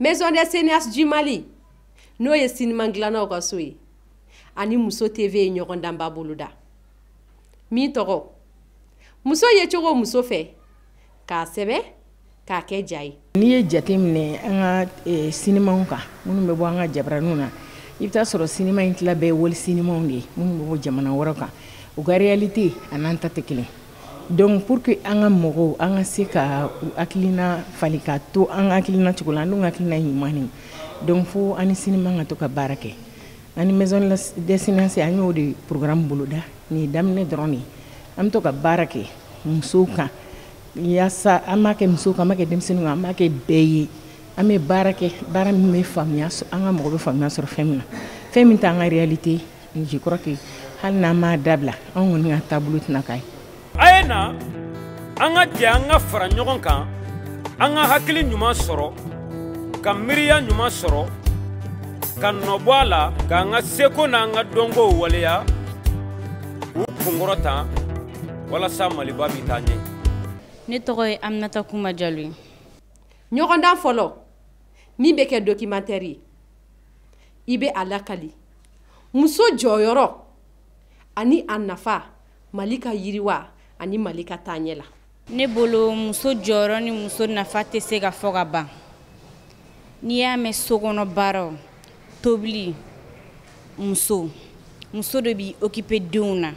maison des cinéastes du mali n'o ye sinima dilannaw ka so ye ani muso tv ye ɲɔgɔndanba boloda min tɔgɔ muso yecogo muso fɛ k'a sɛbɛn k'a kɛ ja ye n'i ye jate minɛ an ka e, sinimaw kan minnu bɛ bɔ an ka jabaraniw na i bɛ t'a sɔrɔ sinima in tila bɛɛ wali sinimaw de ye minnu bɛ bɔ jamana wɛrɛ kan u ka réalité an'an ta tɛ kelen donc pour que an ka mɔgɔw an ka se ka u hakilina falen ka to an ka hakilina cogo la an dun ka hakilina ye ɲuman de donc fo an ni sinima ka to ka baara kɛ an ni maison des cinéastes an y'o de programme boloda nin ye daminɛ dɔrɔn de ye an bɛ to ka baara kɛ musow kan yasa an b'a kɛ muso kan an b'a kɛ denmisɛnnin kan an b'a kɛ bɛɛ ye an bɛ baara kɛ baara min bɛ faamuya an ka mɔgɔ bɛ faamuya sɔrɔ fɛn min na fɛn min t'an ka réalité je crois que hali n'an m'a dabila an kɔni ka taabolo tɛna k'a ye a ye na an ka jɛ an ka fara ɲɔgɔn kan an ka hakili ɲuman sɔrɔ ka miiriya ɲuman sɔrɔ ka nɔbɔ a la k'an ka seko n'an ka dɔnkow waleya k'u kunkɔrɔta walasa maliba bɛ taa ɲɛ ne tɔgɔ ye aminata kumba jalo ye ɲɔgɔndan fɔlɔ min bɛ kɛ documentaire ye i bɛ a lakali muso jɔyɔrɔ ani a nafa mali ka yiriwa ani mali ka taaɲɛ la ne bolo muso jɔyɔrɔ ni muso nafa tɛ se ka fɔ ka ban n'i y'a mɛn sokɔnɔ baaraw tobili muso muso de b'i occuper denw na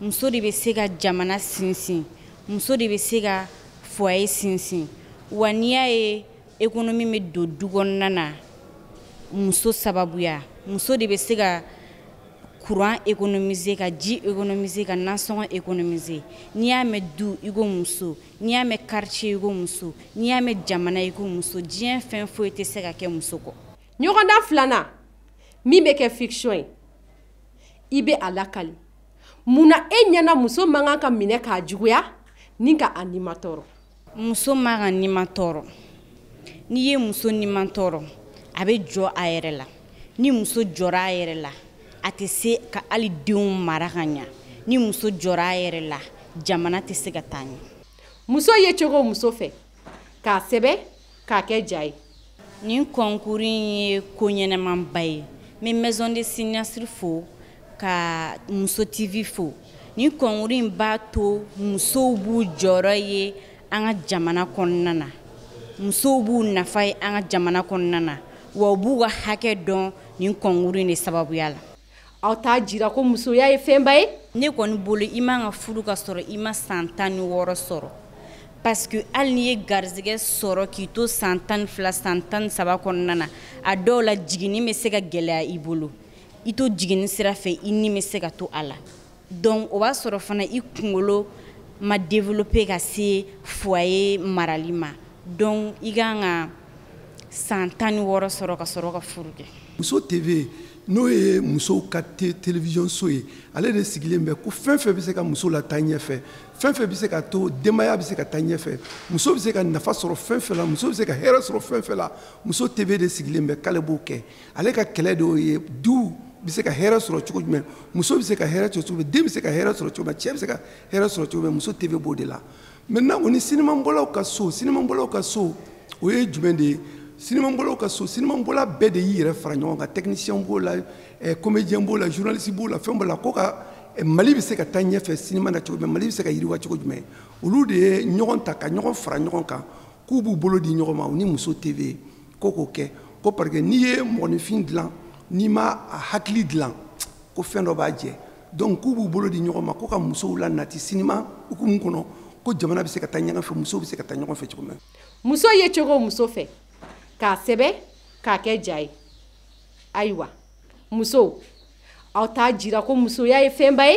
muso de bɛ se ka jamana sinsin muso de bɛ se ka foyer sinsin wa n'i y'a ye économie bɛ don du kɔnɔna na muso sababuya muso de bɛ se ka courant économiser ka ji économiser ka nasɔngɔ économiser n'i y'a mɛn du i ko muso n'i y'a mɛn quartier i ko muso n'i y'a mɛn jamana i ko muso diɲɛ fɛn foyi tɛ se ka kɛ muso kɔ ɲɔgɔndan filanan min bɛ kɛ fiction ye i bɛ a lakali mun na e ɲɛna muso man kan ka minɛ k'a juguya ni ka a nimatɔɔrɔ muso man ka nimatɔɔrɔ n'i ye muso nimatɔɔrɔ a bɛ jɔ a yɛrɛ la ni muso jɔra a yɛrɛ la a tɛ se ka hali denw mara ka ɲa ni muso jɔra a yɛrɛ la jamana tɛ se ka taa ɲɛ muso yecogo muso fɛ k'a sɛbɛn k'a kɛ ja ye nin kɔnkuru in ye ko ɲɛnamaba ye n bɛ maison des cinéastes fo ka muso tv fo nin kɔnkuru in b'a to musow b'u jɔyɔrɔ ye an ka jamana kɔnɔna na musow b'u nafa ye an ka jamana kɔnɔna na wa u b'u ka hakɛ dɔn nin kɔnkuru in de sababuya la aw t'a jira ko musoya ye fɛnba ye ne kɔni bolo i man ka furu ka sɔrɔ i ma san tan ni wɔɔrɔ sɔrɔ parce que hali n'i ye garizigɛ sɔrɔ k'i to san tan ni fila san tan ni saba kɔnɔna na a dɔw la jiginni bɛ se ka gɛlɛya i bolo i to jiginni sira fɛ i ni bɛ se ka to a la donc o b'a sɔrɔ fana i kunkolo ma développer ka se foyer marali ma donc i ka kan ka san tan ni wɔɔrɔ sɔrɔ ka sɔrɔ ka furu kɛ muso tv n'o ye musow ka télévision so ye ale de sigilen bɛ ko fɛn fɛn bɛ se ka muso la taa ɲɛfɛ fɛn fɛn bɛ se ka to denbaya bɛ se ka taa ɲɛfɛ muso bɛ se ka nafa sɔrɔ fɛn fɛn la muso bɛ se ka hɛrɛ sɔrɔ fɛn fɛn la muso tv de sigilen bɛ k'ale b'o kɛ ale ka kɛlɛ de y'o ye du bɛ se ka hɛrɛ sɔrɔ cogo jumɛn muso bɛ se ka hɛrɛ sɔrɔ cogo den bɛ se ka hɛrɛ sɔrɔ cogo cɛ bɛ se ka hɛrɛ sɔrɔ cogo muso tv b'o de la maintenant o ni sinimabɔlaw ka so sinimabɔlaw ka so o ye jumɛn de ye sinimabɔlaw ka so sinimabɔla bɛɛ de y'i yɛrɛ fara ɲɔgɔn kan technicien b'o la eh, comédien b'o la journaliste b'o la fɛn b'o la ko ka eh, mali bɛ se ka taa ɲɛfɛ sinima na cogo jumɛn mali bɛ se ka yiriwa cogo jumɛn olu de ye ɲɔgɔn ta ka ɲɔgɔn fara ɲɔgɔn kan k'u b'u bolo di ɲɔgɔn ma u ni muso tv ko k'o kɛ ko parce que n'i ye mɔgɔninfin dilan n'i ma a hakili dilan ko fɛn dɔ b'a jɛ donc k'u b'u bolo di ɲɔgɔn ma ko ka musow la nati sinima hukumu kɔnɔ ko jamana bɛ se ka taa ɲɔgɔn fɛ musow bɛ se ka taa ɲɔgɔn fɛ cogo min muso ye cogo muso fɛ k'a sɛbɛ k'a kɛ ja ye ayiwa musow aw t'a jira ko musoya ye fɛnba ye